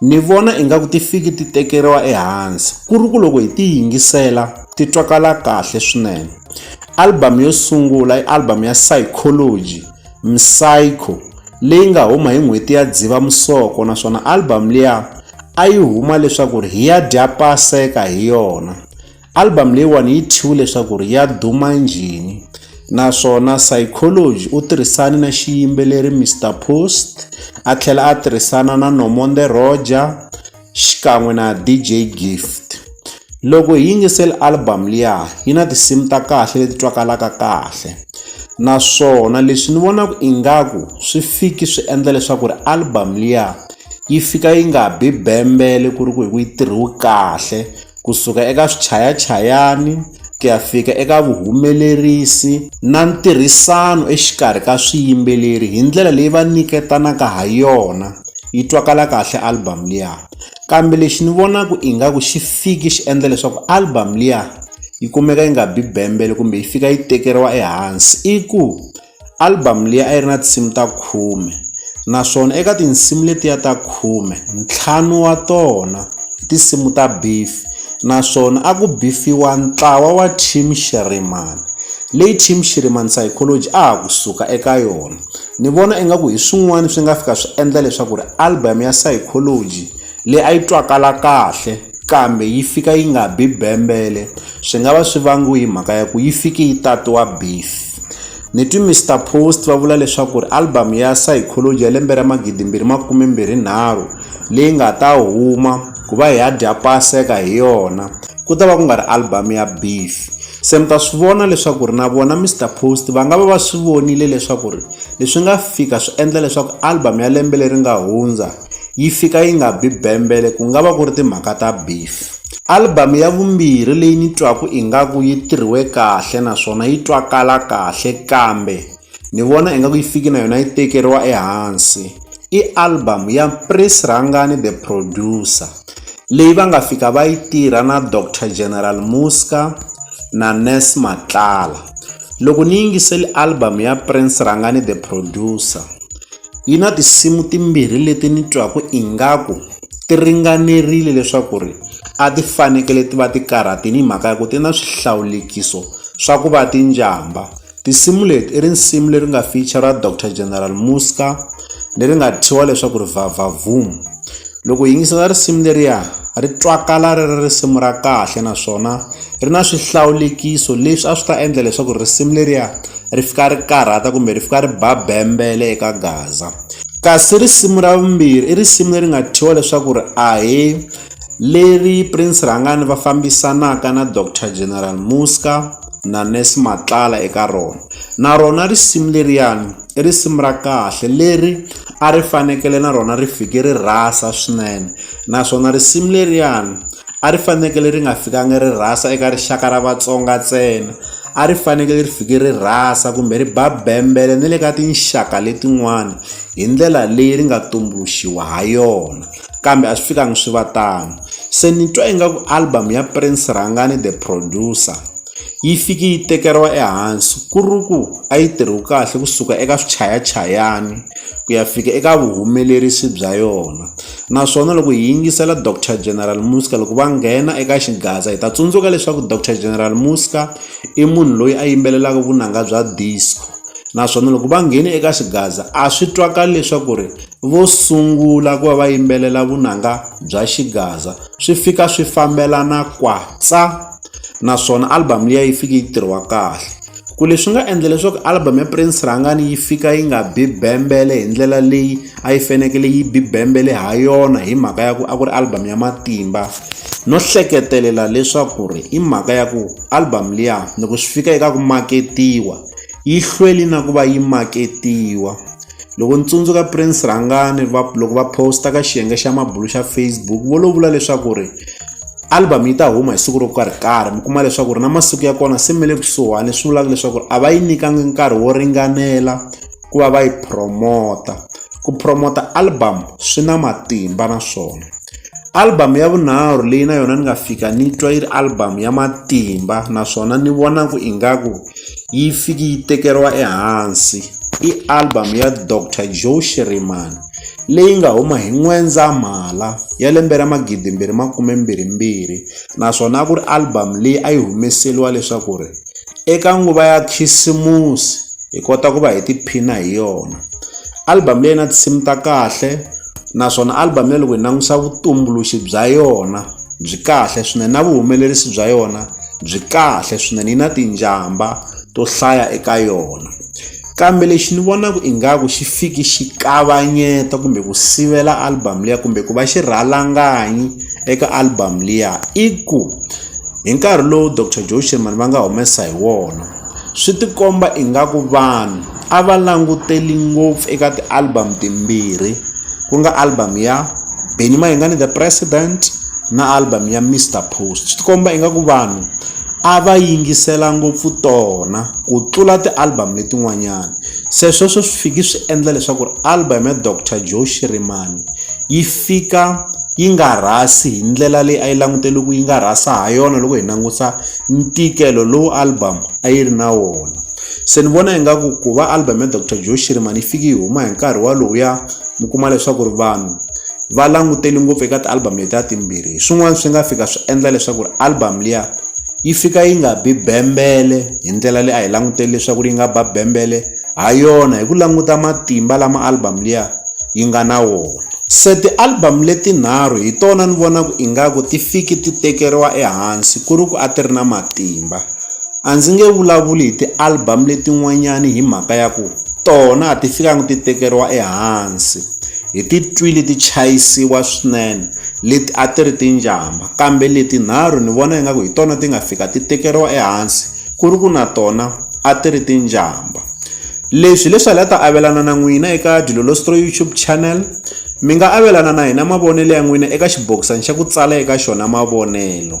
Ni vona ingaku ti fiki ti tekeriwa ehansi ku ri ku loko hi ti yingisela ti twakala kahle swinene album yo sungula i album ya psychology psycho leyi nga huma hi n'hweti ya dziva musoko naswona album liya a yi huma leswaku ri hi ya dya paseka hi yona Album leyiwani yi thyiwe leswaku ri ya duma njhini naswona Psychology u tirhisane na xiyimbeleri Mister Post a tlhela a tirhisana na Nomonde Roger xikan'we na DJ Gift. Loko hi yingisela album liya yi na tinsimu ta kahle leti twakalaka kahle naswona leswi ni vonaka ingaku swi fiki swi endla leswaku ri album liya yi fika yi nga bi bembele ku ri ku hi ku yi tirhiwe kahle kusuka eka swichayachayani ku ya fika eka vuhumelerisi na ntirhisano exikarhi ka swiyimbeleri hi ndlela leyi va nyiketanaka ha yona yi twakala kahle album liya kambe lexi ni vonaka ingaku xi fiki xi endla leswaku album liya yi kumeka yi nga bi bembele kumbe yi fika yi tekeriwa ehansi i ku album leyi a yi ri na tinsimu ta khume naswona eka tinsimu letiya ta khume ntlhanu wa tona i tinsimu ta beef naswona a ku bifiwa ntlawa wa team Shirimani leyi team Shirimani psychology a ha kusuka eka yona ni vona ingaku hi swin'wana swi nga fika swi endla leswaku ri album ya psychology leyi a yi twakala kahle kambe yi fika yi nga bi bembele swi nga va swi vangiwe hi mhaka ya ku yi fike yi tatiwa beef ni twi Mister Post va vula leswaku ri album ya Psychology ya lembe ra magidi mbirhi makume mbirhi nharhu leyi nga ta huma ku va hi ya dya paseka hi yona ku ta va ku nga ri album ya beef se mi ta swi vona leswaku ri na vona Mister Post va nga va va swi vonile leswaku ri leswi nga fika swi endla leswaku album ya lembe leri nga hundza yi fika yi nga bi bembele ku nga va ku ri timhaka ta beef. Album ya vumbirhi leyi ni twaku ingaku yi tirhiwe kahle naswona yi twakala kahle kambe ni vona ingaku yi fiki na yona yi tekeriwa ehansi i album ya Prince Rhangani the producer leyi va nga fika va yi tirha na Doctor General Muska na Ness Matlala loko ni yingiseli album ya Prince Rhangani the producer Yi na tinsimu timbirhi leti ni twaka ingaku ti ringanerile leswaku ri a ti fanekele ti va ti karhatile hi mhaka ya ku ti na swihlawulekiso swa ku va ti njhamba tinsimu leti i risimu leri nga feature ra doctor general muska leri nga thyiwa leswaku ri vavhavhumu Loko hi yingisela risimu leriya ri twakala ri ri risimu ra kahle naswona ri na swihlawulekiso leswi a swi ta endla leswaku risimu leriya ri fika ri karhata kumbe ri fika ri ba bembele eka gaza kasi risimu ra vumbirhi i risimu leri nga thyiwa leswaku ri a hi leri Prince Rhangani va fambisanaka na Doctor General Muzka na Nurse Matlala eka rona na rona risimu leriyani i risimu ra kahle leri a ri fanekele na rona ri fike ri rhasa swinene naswona risimu leriyani a ri fanekele ri nga fikangi ri rhasa eka rixaka ra Vatsonga ntsena a ri fanekele ri fike ri rhasa kumbe ri ba bembele ni le ka tinxaka letin'wana hi ndlela leyi ri nga tumbuluxiwa ha yona. kambe a swi fikangi swi va tano se ni twa ingaku album ya prince rhangani the producer yi fiki yi tekeriwa ehansi ku ri ku a yi tirhi kahle kusuka eka swichayachayani ku ya fika eka vuhumelerisi bya yona naswona loko hi yingisela doctor general muska loko va nghena eka xigaza hi ta tsundzuka leswaku doctor general muska i munhu loyi a yimbelelaka vunanga bya disco naswona loko va nghene eka xigaza a swi twakali leswaku ri vo sungula ku va va yimbelela vunanga bya xigaza swi fika swi fambelana kwatsa naswona album liya yi fike yi tirhiwa kahle ku leswi nga endla leswaku album ya Prince Rhangani yi fika yi nga bi bembele hi ndlela leyi a yi fanekele yi bi bembele ha yona hi mhaka ya ku a ku ri album ya matimba no hleketelela leswaku ri i mhaka ya ku album liya loko swi fika eka ku maketiwa yi hlweli na ku va yi maketiwa. Loko ni tsundzuka Prince Rhangani va loko va post-a ka xiyenge xa mabulo xa Facebook vo lo vula leswaku ri album yi ta huma hi siku ro karhi karhi mi kuma leswaku ri na masiku ya kona se mi le kusuhani leswi vulaka leswaku a va yi nyikanga nkarhi wo ringanela ku va va yi promote-a ku promote-a album swi na matimba naswona. Album ya vunharhu leyi na yona ni nga fika ni twa yi ri album ya matimba naswona ni vona ku ingaku yi fiki yi tekeriwa ehansi i album ya Doctor Joe Shirimani leyi nga huma hi N'wendzamhala ya lembe ra magidi mbirhi makume mbirhi mbirhi naswona a ku ri album leyi a yi humeseliwa leswaku ri eka nguva ya khisimusi hi kota ku va hi tiphina hi yona album leyi na tinsimu ta kahle. naswona album ya loko hi langusa vutumbuluxi bya yona byi kahle swinene na vuhumelerisi bya yona byi kahle swinene yi na tinjhamba to hlaya eka yona kambe lexi ni vonaka ingaku xi fiki xi kavanyeta kumbe ku sivela album liya kumbe ku va xirhalanganyi eka album liya i ku hi nkarhi lowu dr joe sherman va nga humesa hi wona swi tikomba ingaku vanhu a va languteli ngopfu eka ti-album timbirhi ku nga album ya Benny Mayengani the president na album ya Mister Post swi tikomba ingaku vanhu a va yingisela ngopfu tona ku tlula ti-album letin'wanyana se sweswo swi fiki swi endla leswaku ri album ya Doctor Joe Shirimani yi fika yi nga rhasi hi ndlela leyi a yi langutele ku yi nga rhasa ha yona loko hi langusa ntikelo lowu album a yi ri na wona. se ni vona ingaku ku va album ya dr joe shirimani yi fiki yi huma hi nkarhi walowuya mi kuma leswaku ri vanhu va langutele ngopfu eka ti-album leti a timbirhi hi swin'wana swi nga fika swi endla leswaku ri album liya yi fika yi nga bi bembele hi ndlela leyi a hi langutele leswaku ri yi nga ba bembele ha yona hi ku languta matimba lama album liya yi nga na wona se ti-album letinharhu hi tona ni vonaku ingaku ti fiki ti tekeriwa ehansi ku ri ku a ti ri na matimba A ndzi nge vulavuli hi ti-album letin'wanyani hi mhaka ya ku tona a ti fikanga ti tekeriwa ehansi hi ti twile ti chayisiwa swinene leti a ti ri ti njhamba kambe leti nharhu ni vona ingaku hi tona ti nga fika ti tekeriwa ehansi ku ri ku na tona a ti ri ti njhamba leswi hi leswi a hi la ta avelana na n'wina eka Dilolostroy YouTube channel mi nga avelana na hina mavonelo ya n'wina eka xibokisana xa ku tsala eka xona mavonelo.